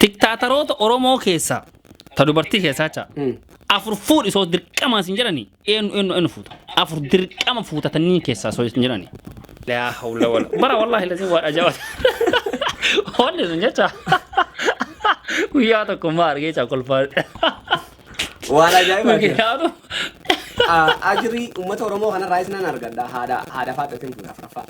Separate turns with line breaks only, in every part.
Diktaataroota Oromoo keessaa ta dubartii keessaa jecha afur fuudhi soo dirqamaa sin jedhani eenyu eenyu eenyu fuuta afur dirqama fuutatanii keessaa soo sin jedhani. Laa hawla wala bara wallaahi lasin waan ajaa'ibaa. Wanni sun jecha guyyaa tokko maa argee jecha kolfaa.
Waan ajaa'ibaa Okay, jira. haadhu. Ah, Ajri uummata Oromoo kanarraa isinan argadha. Haadha haadha faaxatiin fuudha afraffaa.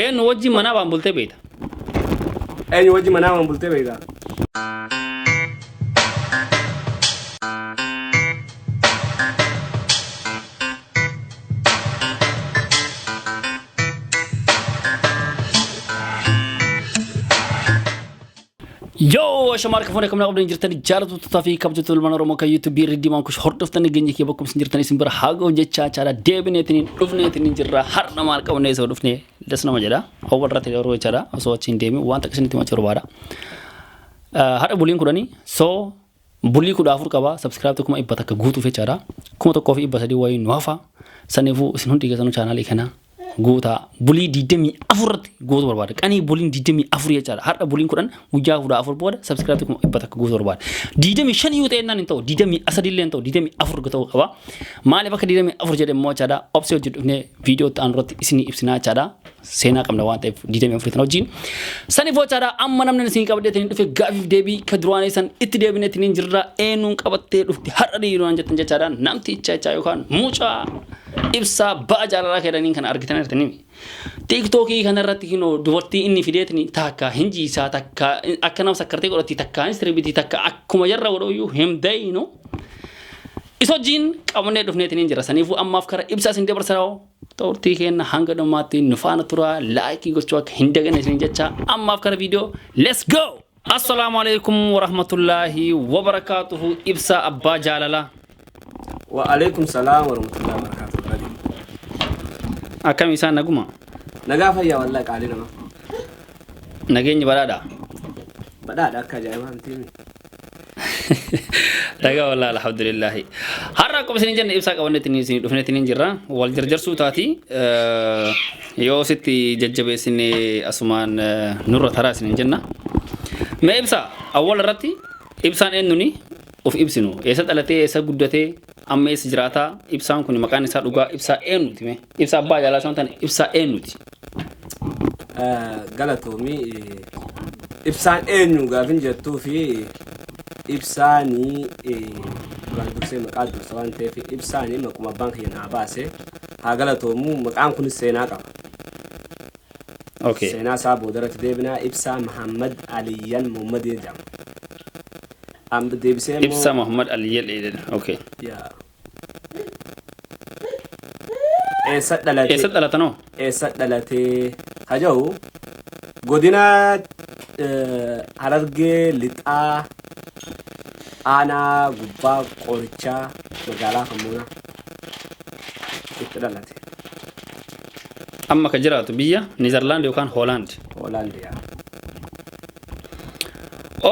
Eenyu wajjin manaa baan bultee beekta.
Eenyu wajji manaa waan bultee beektaa?
Yoo ashamaa harka fuunee kamnaa qabdan jirtan jaalatu tutaa fi kabjatu ilmaan Oromoo kan YouTube irra diimaan kush hordoftan geenye kee bakkum isin jirtan isin bira haagoo jechaa chaala deebineetiin dhufneetiin jirra har'a maal qabnee isa dhufne das nama jedha hawwa irratti yeroo jechaadha osoo achi hin deemin waan takka isinitti macha barbaada. Har'a buliin kudhanii soo Bulii kudha afur qaba subscribe kuma dhibba takka guutuuf jechaadha. Kuma tokkoo fi dhibba sadii wayii nu hafa. Saniifuu isin hundi keessanuu chaanaalii kana guutaa bulii digdamii afur irratti guutuu barbaada. Qanii buliin digdamii afur jechaadha. Har'a buliin kudhan guyyaa kudha afur booda subscribe kuma dhibba takka guutuu barbaada. Digdamii shan yoo ta'e naan hin ta'u digdamii sadii illee hin ta'u digdamii afur ta'uu qaba. Maaliif akka digdamii afur jedhe immoo jechaadha obsee hojii dhufnee viidiyoo ta'an irratti isinii ibsinaa jechaadha. seenaa qabna waan ta'eef 24 tan wajjin. Sani foochaadha amma namni isin qabdee taniin dhufe gaafiif deebii ka duraanii san itti deebinee taniin jirra eenyuun qabattee dhufte har'a dhiiruudhaan jettan jechaadha namti icha ichaa yookaan mucaa ibsaa ba'a jaalalaa keedhaniin kana argitan jirtanii. Tiiktookii kanarratti kinoo dubartii inni fideetni takka hin jiisaa takka akka nama sakkartee godhatti takka hin sirbitii takka akkuma jarra godhooyyuu hin beeynu. Isa wajjin qabannee dhufneetiniin jira saniifuu ammaaf kara ibsaa isin dabarsaa Turtii keenna hanga dhumaatti nu faana turaa like gochuu akka hin dagane isin jechaa ammaaf kara video let's go! Assalaamu alaikum warahmatullaahi wabarakaatuhu ibsaa abbaa jaalala. Wa
alaikum salaam warahmatullahi wabarakatuh Badi.
Akkami isaan naguma? Nagaa fayyaa
wallahi qaalii nama.
Nageenyi badhaadha. Badhaadha
akka ajaa'ibaa miti.
Dhagaa walaa alhamdulillahi. Har'a akkuma isin jenne ibsaa qabannetti ni isin dhufnetti ni jirra. Wal jarjarsuu taati. Yoo sitti jajjabeessine asumaan nurra taraa isin jenna. Mee ibsaa awwal irratti ibsaan eenyuni of ibsinu. Eessa dhalatee eessa guddatee Amma eessa jiraataa? Ibsaan kun maqaan isaa dhugaa ibsaa eenyuti mee? Ibsaa abbaa jaalaa isaa ta'an ibsaa eenyuti?
Galatoomii ibsaan eenyu gaafin jettuu fi ibsaanii duraan dursee maqaa dursa waan ta'eef ibsaanii maquma abbaan kiyya naa baase haa galatoomu maqaan kunis seenaa qaba.
Okay. Seenaa isaa
boodarratti deebinaa ibsaa Mahammad Aliyyan Muhammadii jedhama. Amd deebisee immoo. Ibsa Muhammad Ali jedhe
jedhe. Okay. Yaa.
Eessa dhalate? Eessa dhalatan hoo? Eessa
dhalatee?
Haja'u godina eh, Harargee Lixaa aanaa gubbaa qorichaa magaalaa Kammuunaa itti dhalate.
Amma ka jiraatu biyya Niizerlaand yookaan Hoolaand. Hoolaandiyaa.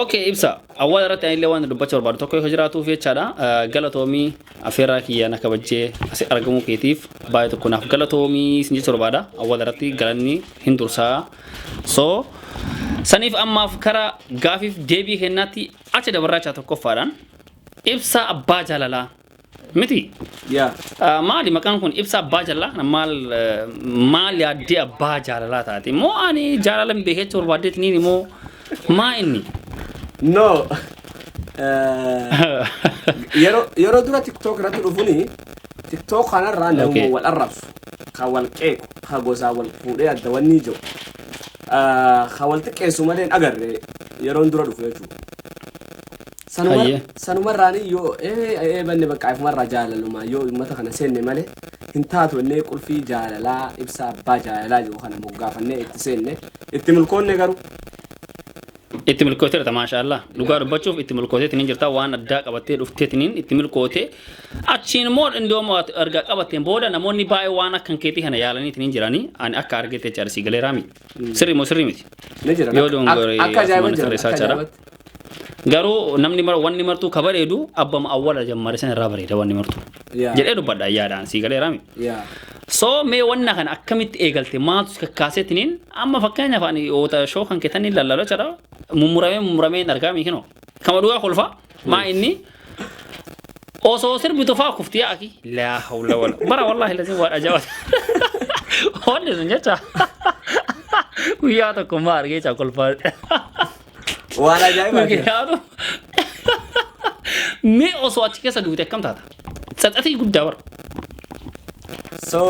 Okay ibsa awwaala irratti ani illee waan dubbachuu barbaadu tokko yoo jiraatuuf jechaadha galatoomii afeerraa kiyya na kabajjee asi argamuu keetiif baay'ee tokko naaf galatoomii sin jechuu barbaada awwaala irratti galanni hin dursaa so saniif ammaaf kara gaafiif deebii kennaatti achi dabarraachaa tokkoffaadhaan ibsa abbaa jaalalaa Miti. Yaa.
Ah, Maali maqaan
kun ibsa abbaa jaalalaa kana maal eh, maal yaaddee abbaa jaalalaa taate moo ani jaalala hin beekne jechuu barbaaddeeti niini moo maa inni. No.
Eh, Yeroo yeroo dura TikTok irratti dhufuni TikTok kanarraa namuma Okay. wal arrabsu, kan wal qeequ, kan gosaa wal fuudhee adda wanni jiru. Eh, Kan wal xiqqeessu malee hin agarre yeroon dura dhufu jechuudha. Sanuma- Hayyee. sanumarraanii yoo ee ee banne bakka ifumarraa jaalalumaa yoo uummata kana seenne malee hin taatu innee qulfii jaalalaa ibsaa abbaa jaalalaa jiru kana moggaafannee itti seenne itti milkoonne garuu
Itti milkootee jirta maashaallah. Dhugaa dubbachuuf itti milkooteetiin hin jirta waan addaa qabattee dhufteetiin itti milkootee achiin immoo indoo erga qabatteen booda namoonni baay'ee waan akkan keetii kana yaalaniitiin hin jiranii ani akka argeetti jecha arsii galeeraa miti. Sirrii moo sirrii miti? Ni jira. Yoo dongore Ak-
akka ajaa'iba
asumaan jira. tarreessaa Akka jira. ajaa'ibatti. Garuu namni mar wanni martuu ka bareedu abbama awwala jammare san irraa bareeda wanni martuu. Yaa. Jedhee dubbadha yaadaan sii galee raami. Yaa. So mee wanna kana akkamitti eegalte maaltu si kakkaasetiniin amma fakkeenyaaf ani oota shoo kan keetanii lallala jedha mummuramee mummuramee hin argaa miikinoo. Kama dhugaa kolfaa Maa inni osoo sirbi tofaa kufti yaaki. Laa hawla wala. Bara wallahi lazim waan ajaa'ibaa. Wanni sun jecha. Guyyaa tokko maa argee jecha kolfaa.
Waan ajaa'ibaa jira. Mikiyaatu.
Mee osoo achi keessa duute akkam taata? Tsatsatii guddaa bara.
So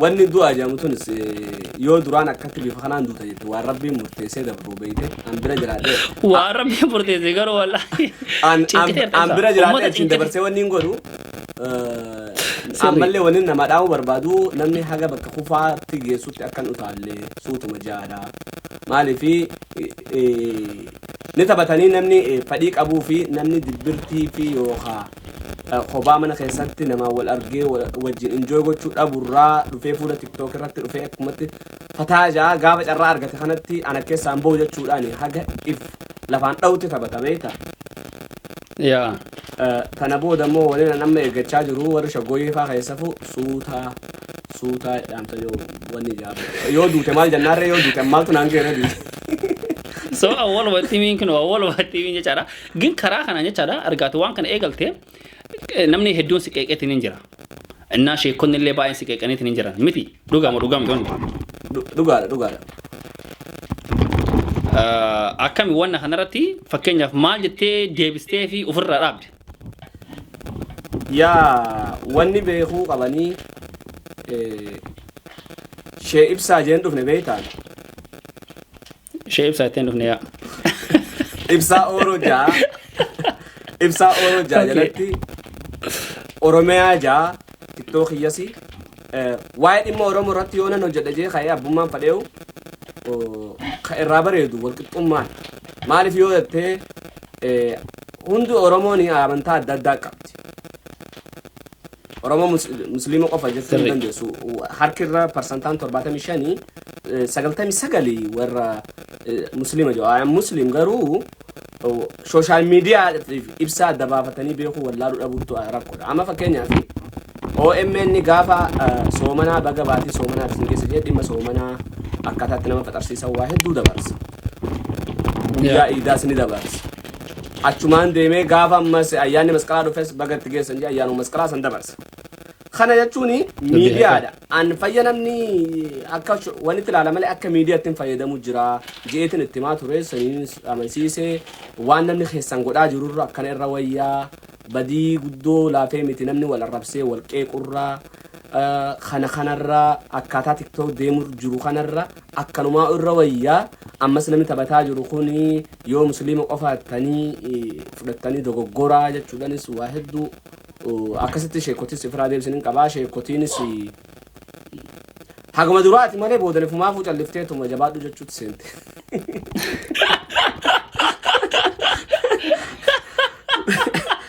wanni du'a jedhamu tunis eh, yoo duraan akkatti bifa kanaan duuta jette waan rabbiin murteessee dabruu beeyte an bira jiraadhee Waa rabbii
murteesse garuu wallaahi. an an- Cinqitee an bira
Uummata jiraadhee ittiin cinqitee. dabarsee wanni hin godhu eh, Sirrii. ammallee wanni nama dhaa'uu barbaadu namni haga bakka kufaatti geessutti akkan utaalle suutuma jaadha maaliifi eh, eh, Ni taphatanii namni fadhii qabuu fi namni dibbirtii fi yookaa kophaa mana keessatti namaan wal argee wajjin enjoy gochuu dhabu irraa dhufee fuula tiktok irratti dhufee akkumatti fataa jaa gaafa carraa argate kanatti ana keessaan ba'u jechuudhaan haga if lafaan dha'utti taphata beekta. Yaa. Kana booda immoo waliin an amma eeggachaa jiru warri shaggooyyee faa keessafu suutaa suutaa dhaamta yoo wanni ijaarra. Yoo duute maal jennaarree yoo duute maaltu naan geerra duute. So awwal
watti miin kun awwal watti miin jechaadha. Gin karaa kanaan jechaadha argaatu waan kana eegalte eh, namni hedduun si qeeqeetiin hin jira. Innaa sheekonni illee baay'een si qeeqaniitiin hin jiran. Miti dhugaa moo dhugaa miti wanti kun. Dhu- Dhugaadha
dhugaadha.
Ah, Akkami wanna kanarratti fakkeenyaaf maal jettee deebistee fi ofirraa dhaabde. Yaa
wanni beekuu qabanii eh, shee ibsaa jeen dhufne beektaan. Ishee
ibsaa ittiin dhufne yaa.
Ibsaa Ooroo ja'a. Ibsaa Ooroo ja'a Okay. jalatti Oromiyaa ja'a tiktoo kiyyasi. Eh, Waa'ee dhimma Oromoo irratti yoo nan hojjedha jee ka'ee abbummaan fadhee'u oh, ka irraa bareedu walqixxummaan. Maaliif yoo jettee eh, hundi Oromoon amantaa adda addaa qabdi. Oromoo mus- musliima qofa jechuu hin Sirrii. dandeessu. Harki irra parsantaan 75 eh, 99 warra eh, musliima jedhu. I am muslim garuu oh, social media tiif ibsaa adda baafatanii beekuu wallaaluu dhabuutu ah, rakkoodha. Amma fakkeenyaaf OMN gaafa eh, soomanaa baga baatii soomanaa isin keessa jedhe dhimma soomanaa akkaataatti nama faxarsiisan waa hedduu dabarsa. Guyyaa iidaas ni dabarsa. Achumaan deemee gaafa ammas ayyaanni masqalaa dhufes baga itti geessan jedhe ayyaanuma masqalaa san dabarsa. Kana jechuun miidiyaadha. An fayya namni akka sh- wanitti ilaala malee akka miidiyaatti hin fayyadamu jira. Jeetin itti himaa ture saniin amansiise waan namni keessan godhaa jirurra akkana irra wayyaa badii guddoo laafee miti namni wal arrabsee wal qeequrra eh, kana kanarra akkaataa tiktok deemur jiru kanarra Akkanumaa'u irra wayya ammas namni taphataa jiru kun yoo musliima qofaattanii fudhattanii dogoggoraa jechuudhanis waa hedduu akkasitti sheekotis ifiraa deebisin hin qabaa sheekotiinis haguma duraati malee boodani fumaafuu calliftee tuma jabaadhu jechuutti seente.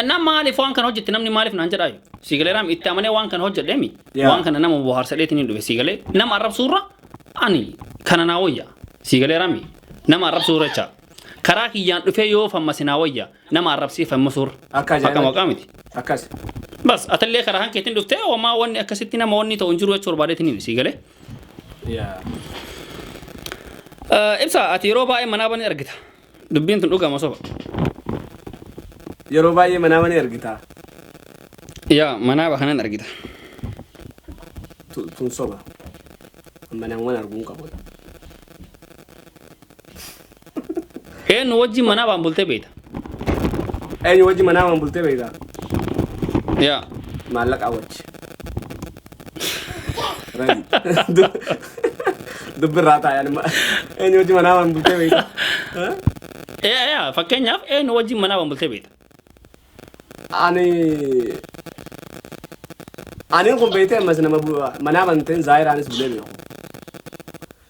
Annaa maaliif waan kana hojjette namni maaliif naan jedhaayu? Sii galee raam itti amanee waan kana hojjedheemi. Yaa. Waan kana nama bohaarsa dheetiin hin dhufe sii galee nama arrabsuurra ani kana naa wayya. Sii galee raami nama arrabsuurra jecha. Karaa kiyyaan dhufee yoo fammase naa wayya nama arrabsee fammasuurra. Akka Akka ajaa'ibaatti. maqaa miti. Akkas.
Bas atallee
karaa kan keetiin dhuftee homaa wanni akkasitti nama wanni ta'u hin jiru jechuu barbaadeetiin himi sii galee. Yaa. Eh, Ibsa ati yeroo baay'ee manaa banii argita. Dubbiin tun dhugama soba.
Yeroo baay'ee manaama ni argita.
Yaa manaa bakanan argita. Tu-
Tun soba. Manaawwan arguu hin qabu.
Eenyu wajjin manaa baan bultee beekta.
Eenyu wajji manaamaan bultee beektaa?
Yaa Maallaqaa
wajji. Dubbirraa taa'an eenyu wajjin manaa waan bultee beekta. Fakkeenyaaf
eenyu wajjin manaa waan bultee beekta.
Ani ani kun beektee ammas nama manaa banteen zaayiraanis bulee beeku.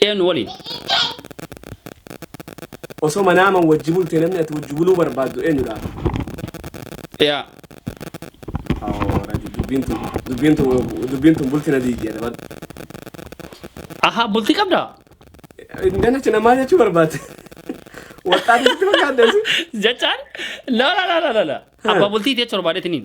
Deem nu waliin.
Osoo manaaman wajji bulte namni ati wajji buluu barbaaddu eenyudha?
Yaa. Awoo radi
dubbiin tun dubbiin tun dubbiin tun bulti na diigdi jedha bar.
Ahaa bultii qabdaa? Danacha
namaa jechuu barbaadde. Waxxaatitti fakkaadda si. Jechaan
la la la la la la. Abbaa bultii jecha barbaadetiniin.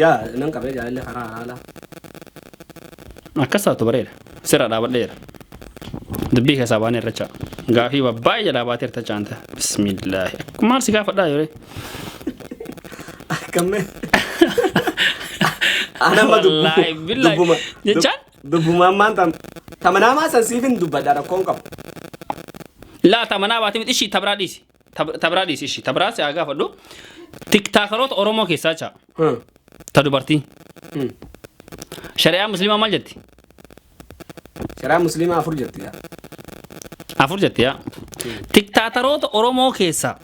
Yaa nan qabee jaalalli karaa halaala. Akkas
taatu bareeda. Sirra dhaabadheera. Dubbii keessaa baanee irracha. Gaafii baay'ee jalaa baatee irta caanta. Bismillaahi. Maal si gaafadhaa yeree? Akkamme.
Anamma Wallaahi, billaahi. dubbuma.
Jechaan? Dubbumaan maan tam.
Tamanaamaa san siifin dubbadha rakkoon qabu.
Laa tamanaa baatee miti ishii tabraa dhiisi. Tab- Tabraa dhiisi ishii. Tabraa si haa gaafadhu. Tiktaakaroota Oromoo keessaa caa. Hmm. Ta dubartii. Hmm. Shari'aa musliimaa maal jetti? Sharaa
musliimaa afur jirti yaa. Afur jetti yaa.
Tiktaataroota Oromoo keessaa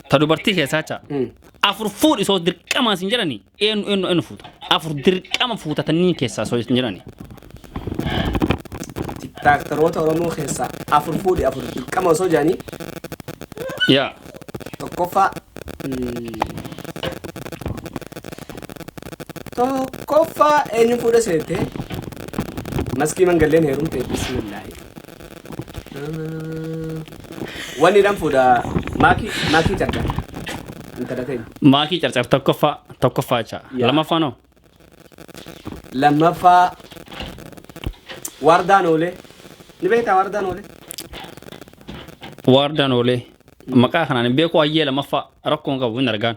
ta dubartii keessaa caa. Hmm. Afur fuudhi soo dirqamaa sin jedhanii. Eenyu eenyu eenyu fuuta? Afur dirqama fuutatanii keessaa soo hin jirani.
Tiraaktaroota Oromoo keessaa afur fuudhi afur dirqama osoo jedhanii
Yaa. tokkoffaa
mm, tokkoffaa eenyu fuudha seete maskii mangalleen heerumte bismillaahi. Wanni dhan fuudha maakii maakii carcar. Intala
ta'e. Maakii carcar tokkoffaa tokkoffaa jecha. Yaa. Lammaffaan hoo?
Lammaffaa waardaan oolee. Ni beektaa waardaan oolee?
Waardaan oolee. Maqaa kanaan hin beeku hayyee lammaffaa rakkoon qabu hin argaan.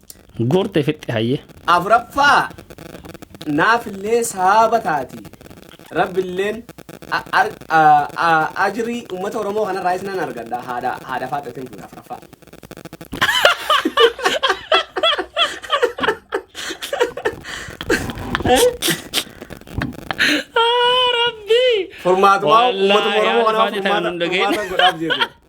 Guurte fixxe hayyee. Afraffaa
naafillee saaba taati. Rabbilleen a- ar- a- a- ajrii uummata Oromoo kanarraa isinan argadha. Haadha haadha faaxatiin fuudha afraffaa.
Rabbi! Furmaatumaa
Wallaahi, uummata Oromoo haadha kanaa faaxatiin
furmaata hunda ga'e. furmaata godhaaf jechuudha.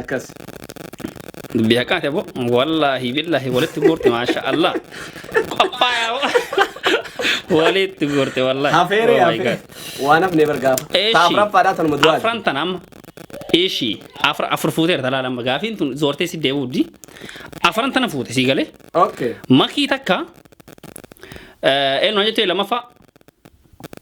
akkas.
Dubbii haqaati aboo. Wallaahi billaahi walitti guurte maasha Allah. Qophaayaa aboo. Walitti guurte wallaahi. Hafeeree Oh my hafee. God.
Waan hafnee bargaafa. Eeshi. Taaf raffaadhaa tanuma duraa. Afran tan amma.
Eeshi. Afur afur fuuteera talaala amma gaafiin tun zoortee si deebi'uuddi. Afran tana fuute sii galee. Okay. Makii
takka.
Eenyu jettee lamaffaa.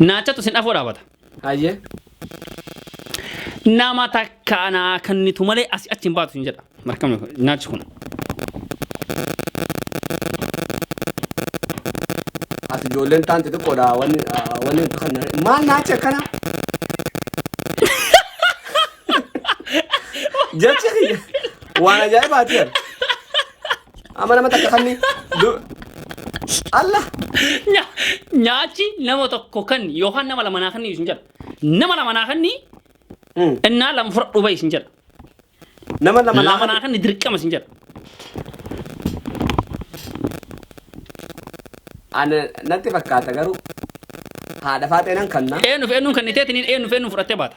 Naachatu sin afoo dhaabata. Hayyee. Nama takka anaa kennitu malee asi achi hin baatu sin jedha. Markamni kun naachi kun. As
ijoolleen taan xixiqqoodha wanni ah, wanni nuti kan maal naachi akkana? Jechi kiyya waan ajaa'ibaati jedha. Amma nama takka kanni. Allah. Nya-
Nyaachi nama tokko kan yookaan nama lama naa kanni isin jedha. Nama lama naa kanni Hmm. innaa lama fudhadhu bahi isin jedha. Nama
lama Lama naa naa kanni dirqama isin
jedha.
Ana natti fakkaata garuu haadha faaxeenan kanna. Eenyuuf eenyuun kanniteetiin
eenyuuf eenyuun fudhattee baata.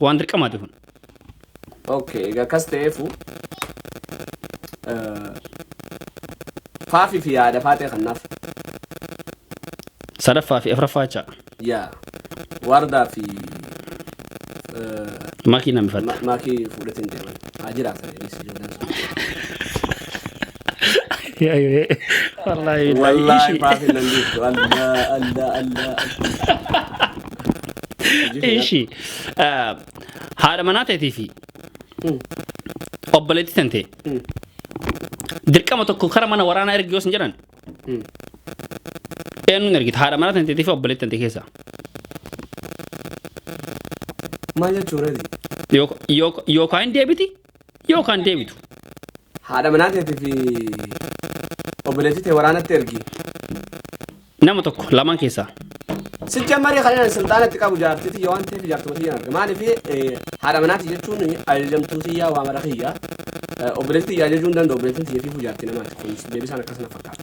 Waan dirqamaati kun. Okay,
egaa akkas ta'eefu faafii fi yaada faatee kannaaf
Sadaffaa fi afraffaa jecha yaa
waardaa fi
makii namifatta. maakii fuudhatiin
deeman haa jiraatan jedhanii si ijoolleen sun. Wallaahi billaahi Wallaahi ishii. maaf hin dandeessu. Allaa, allaa, allaa.
Ishii. ah, Haadha manaa teetii fi obboleettii tantee. Dirqama tokko kara mana waraanaa ergi yoo sin jedhan. Eenyuun ergita haadha manaa tanteetii fi obboleettii tantee keessaa.
Maal jechuudha?
Yookaan hin deebiti Yoo kan deebitu. Haadha
manaa teetii fi obboleettii tee waraanatti ergi.
Nama tokko lamaan keessaa. Sicha marii
kanaan silxaanatti qabu jaartii tiyya waan ta'eef jaartuma tiyya arga. Maaliif haadha manaati jechuun ajajamtuu tiyyaa waa mara kiyya. Obboleettii tiyya ajajuu hin danda'u obboleettiin tiyya fiifuu jaartii namaati. Kunis deebisaan akkasuma fakkaata.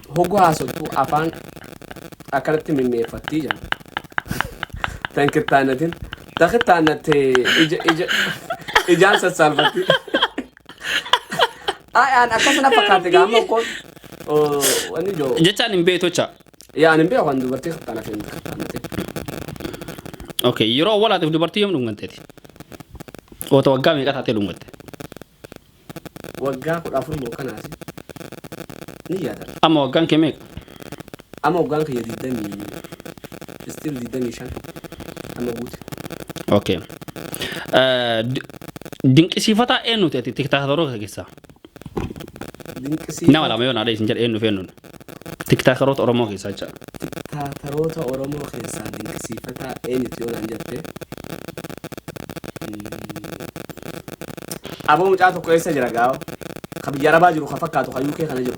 Hogu haasoftu afaan akkanatti mimmeeffattii jedhan. Tan kittaannatin. Ta kittaannatte ija ija ijaan sassaalfatti. Ay aan akkasana fakkaate gaama kun oo, wanni joo. Jechaan hin beektocha.
Yaa ani hin beeku kan
dubartii kittaannatte hin kittaannatte.
Okay, yeroo walaatiif dubartii yoom dhunganteeti? Oota waggaa meeqa taatee dhungatte? Waggaa
kudha afur moo kan haase ni yaada. Amma waggaan kee meeqa?
Amma waggaan
kiyya digdamii still digdamii shan amma guute. Okay.
Eh, di- Dinqisiifataa eenyuti ati tiktaatoroota keessaa? Dinqisiifa. Nama lama yoo naadha isin jedhe eenyuuf eenyuun? Tiktaakaroota Oromoo keessaa jecha. Tiktaakaroota
Oromoo keessaa dinqisiifataa eenyuti yoo naan jette? Aboo mucaa tokko eessa jira gaawo? Ka biyya arabaa jiru ka fakkaatu ka UK kana jiru.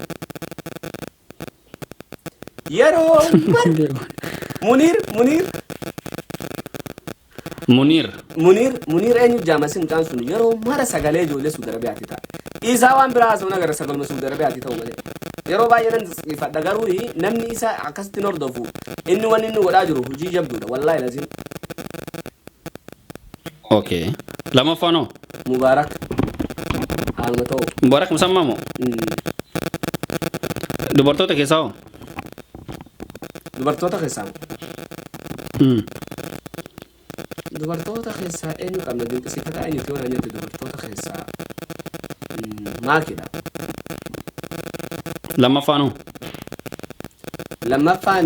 Yeroo mara Muniir Muniir Muniir. Muniir Muniir eenyu jaamasi mucaan sun yeroo mara sagalee ijoollee Suudi Arabiyaatti ta'a. Isaa waan biraa haasawna gara sagaluma Suudi Arabiyaatti ta'u malee. Yeroo baay'ee nan ifadha garuu namni isa akkasitti hin hordofu inni wanni inni godhaa jiru hojii jabduudha wallaahi laziin.
Okay. Lammaffaan hoo? Mubaarak
haaluma ta'u. Mubaarak musammaa moo? Mm.
Dubartoota keessaa hoo? Dubartoota
keessaa Hmm. dubartoota keessaa eenyu qabna dinqisiifataa eenyuti yoo naan jette dubartoota keessaa mm, maakidha.
Lammaffaan hoo?
Lammaffaan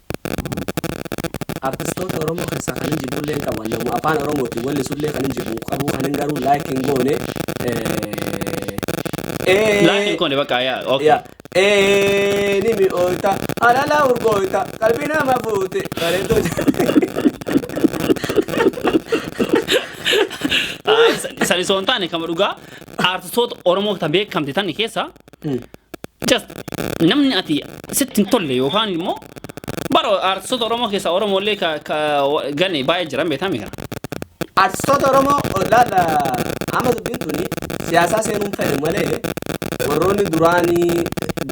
Artistoota Oromoo keessaa kanin jibbullee hin qabu. Ani namuma afaan Oromootiin wellisullee kanin jibbu hin qabu. Kanin garuu like hin goone.
Eh, Laayik hin eh, koone bakka yaa. Okay. ya. Eh,
ni mi'oota, halala urgoota, qalbii nama fuute, bareedduu
Ayi, Sani soon taane kama dhugaa artistoota Oromoo ta beekamte tan keessa Just namni ati sitti hin tolle yookaan immoo bara aartistoota Oromoo keessaa Oromoo illee ka ka gane baay'ee jiran beekame kana. Artistoota
Oromoo laata amma dubbiin tuni siyaasaa seenuun fedhe malee warroonni duraanii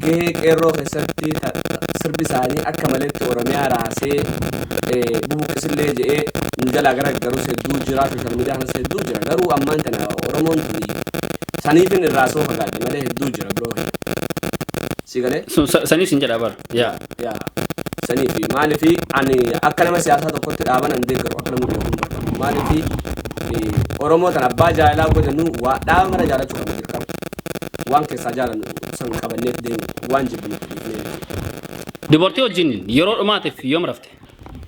gahee qeerroo keessatti ta- sirbi isaanii akka maleetti Oromiyaa raasee eh, bubuqqisillee jedhee nu jalaa gara garus hedduu jira sooshaal miidiyaa kanas hedduu jira garuu ammaan tana Oromoon tuni Saniifin irraa soo fagaadhe malee hedduu jira biroo kee. Si galee? Sun sa- saniif sin
jedha bara. Yaa. Yaa. Saniifi
maaliifi ani akka nama siyaasaa tokkotti dhaaban an deeggaru akka nama beekuun barbaadu. Maaliifi eh, Oromoo tan abbaa jaalalaa godhanu waa dhaaba mara jaalachuu qabna dirqama. Waan keessaa jaalannu san qabanneef deemu waan jibbinu dhiifnee.
Dubartii wajjin yeroo dhumaatiif yoom rafte?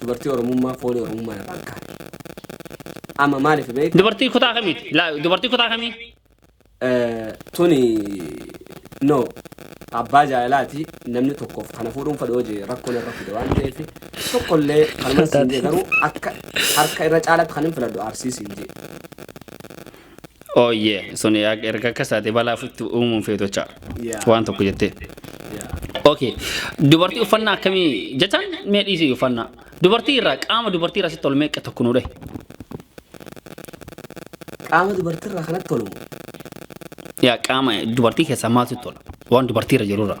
Dubartii Oromummaa foolii Oromummaa irraa hin kaane. Amma maaliif beekta? Dubartii kutaa kamiiti? Laa-
Dubartii kutaa kamii? Eh,
Tuni no abbaa jaalalaati namni tokkoof kana fuudhuun fedha hojii rakkoon irra fide waan ta'eef tokkollee kanuma siin jee garuu akka harka irra caalaatti kan hin filadhu arsii siin jee.
Ooyyee sun yaa- erga akkas taate balaa ofitti uumuun feetu jecha Yeah. waan tokko jettee. Yeah. Okay. Dubartii uffannaa akkamii jechaan mee dhiisii uffannaa. Dubartii irraa qaama dubartii irraa sitti ol meeqa tokko nuu dhahi.
Qaama dubartiirraa kanatti tolu.
Yaa qaama dubartii keessaa maaltu sitti tola? Waan dubartii irra jiru irraa.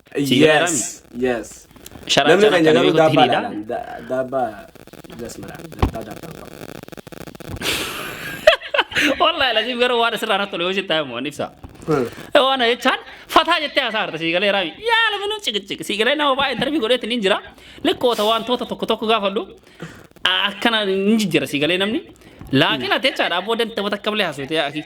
Sii
Yes, gargaarami. yes. Sharaa Namni
sharaa keenya kan garuu beekutti daabbaa
hiriidha. laalaan. Da- Daabbaa jasmara. Daabbaa daabbaa
qabu. Wallahi laziif garuu waan asirraa irratti tole hojii taa'e mo'an ibsa. Hmm. Waan jechaan fataa jettee haasaa harta sii galee raami. Yaa lafa nuuf ciqiciq. Sii galee nama baay'ee intarvii godheetti ni jira. Likkoota wantoota tokko tokko gaafadhu. Akkana ni jijjiira sii galee namni. Laakiin ati jechaadha abboo danda'a takka bilee haasofte yaa akii.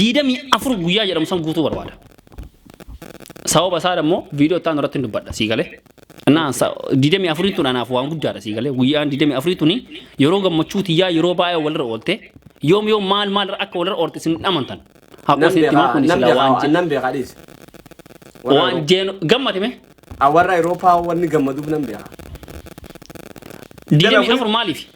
diidamii afur guyyaa jedhamu san guutuu barbaada. Sababa isaa immoo viidiyoo itti aanu irratti hin dubbadha sii galee. Naan diidamii afurii tun anaaf waan guddaadha sii galee. Guyyaan diidamii afurii tuni yeroo gammachuu tiyyaa yeroo baay'ee walirra oolte yoom yoom maal maal akka walirra oolte isin hin amantan. Haqoo Nan isin itti himaa beekaa kun nan sila
waan beekaa jedhu. nan beekaa dhiisi. Warra Waan
Eurooppaa- jeenu gammate mee? Ah, Warra Eurooppaa
wanni gammaduuf nan beekaa. Diidamii
afur maaliif?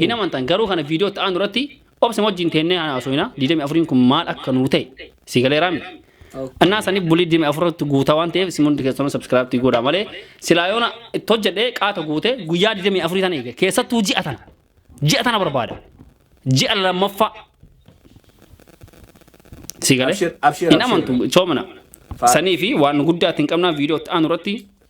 Hin amantan garuu kana viidiyoo itti aanu irratti obsa wajjin teennee haa haasofna. 24n kun maal akka nuu ta'e si galeeraa miti. Okay. Annaa sanii bulii 24tti guutaa waan ta'eef isin hundi keessanuu sabskiraabtii godhaa malee silaa yoona itti hojjedhee qaata guute guyyaa 24 sana eega keessattuu ji'a tana ji'a tana barbaada ji'a lammaffaa si galee Abshir- abshir- hin abshir. amantu coomina Faar- sanii fi waan guddaa ittiin qabnaa viidiyoo itti aanu irratti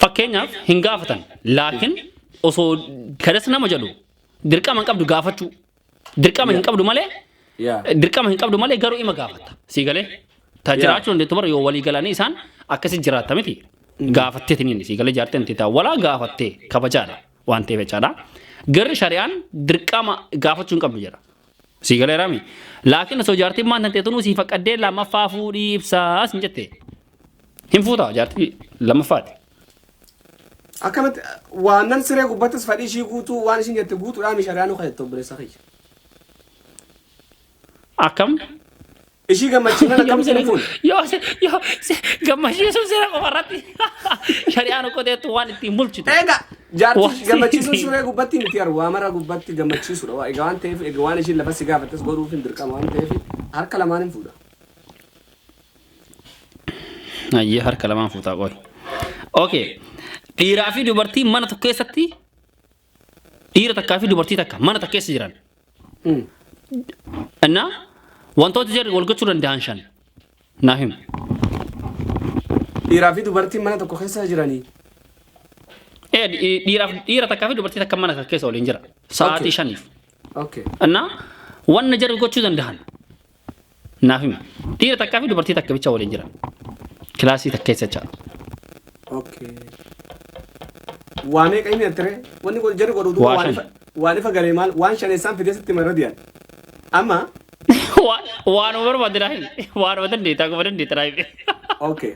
Fakkeenyaaf hin gaafatan laakiin osoo kadhas nama jedhu dirqama hin qabdu gaafachuu. Dirqama hin qabdu malee Yeah. dirqama hin qabdu malee garuu ima gaafata. Sii galee ta Yeah. jiraachuu dandeettu bara yoo walii galanii isaan akkasi jiraatta miti. Gaafattee tiniin sii galee jaartee miti taa walaa gaafattee kabajaadha waan ta'eef jechaadha. Garri shari'aan dirqama gaafachuu hin qabdu jedha. Sii galeeraami. Laakiin osoo jaartiin maan tantee tunuu sii faqqaddee lammaffaa fuudhii ibsaa sin jette. Hin fuutaa jaartii lammaffaati.
Akkamatti waannan siree gubbattis fadhii ishii guutuu waan ishiin jette guutuudhaan shari'aan hoka jette obboleessa kiyya.
Akkam Ishii
gammachiifna Yoo lakkamsi siree- fuun. yoo si- yoo
si- gammachiisuun siree qofa irratti shari'aan qoteettu waan ittiin bulchitu. Egaa jaartii
Waan- gammachiisuun siree gubbatti miti argu waa mara gubbatti gammachiisuudha. Waa- Egaa waan ta'eef egaa waan ishiin lafa si gaafattes godhuuf hin dirqama waan ta'eef harka lamaan hin fuudha.
Ayyee harka lamaan fuutaa qoy. Okay. Dhiiraa fi dubartiin mana tokko keessatti dhiira takkaa fi dubartii takka mana takka keessa jiran innaa wantoota jarri wal gochuu danda'an shan naa hima Dhiiraa
fi dubartiin mana tokko keessa jiranii. Eh, dhi-
dhiiraaf dhiira takkaa fi dubartii takka mana takka keessa waliin jira sa'aatii Okay. shaniif Okay. innaa wanna jarri gochuu danda'an Naaf himi. Dhiira takkaa fi dubartii takka bicha waliin jiran. Kilaasii takka keessa jecha. Okay. Waa meeqa himi attiree? Wanni kun jarri godhu duuba Waa waan shan. ifa waan ifa galee maal waan shaneessaan fidee sitti marra diyan. Amma Waan waanuma barbaadde naa himi. Waanuma dandeettaa guma dandeetta naa himi. okay.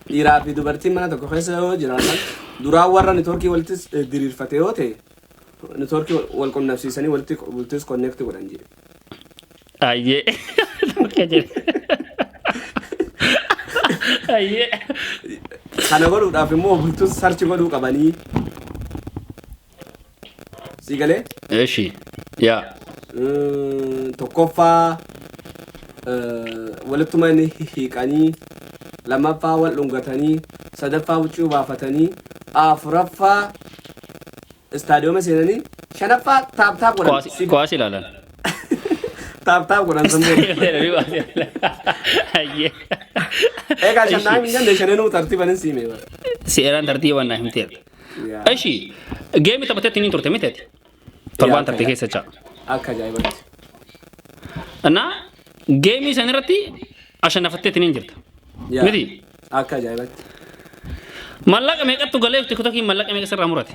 Dhiiraa fi dubartiin mana tokko keessa yoo jiraatan duraan warra networkii walitti eh, diriirfate yoo ta'e networkii wal- wal qunnamsiisanii walitti bultis connect godhan jedhe.
Ayyee. Akka jedhe. Ayyee.
Kana godhuudhaaf immoo bultus sarchi godhuu qabanii Sii galee? Eeshi.
Yaa. Mm, Tokkoffaa
eh, walittuma inni hiiqanii lammaffaa wal dhungatanii sadaffaa huccuu baafatanii afuraffaa istaadiyooma seenanii shanaffaa taaptaap godhan Kuwaasi Si- kuwaasi ilaalan. taaptaap godhan sammuu Deebii kuwaasi ilaalan.
Ayyee.
eegaa shannaa hin jenne shananuu tartiiban hin siimee bara. Seeraan tartiibaan
naa himteera. Eshi geemi taphatetti niin turte miteeti. Torbaan taphte keessa jecha. Akka ajaa'ibatti. Innaa geemii san irratti ashanafattetti niin jirta. Yaa. Miti. Akka ajaa'ibatti. Mallaqa meeqattu galeef tiktokiin mallaqa
meeqa sirraa
murate.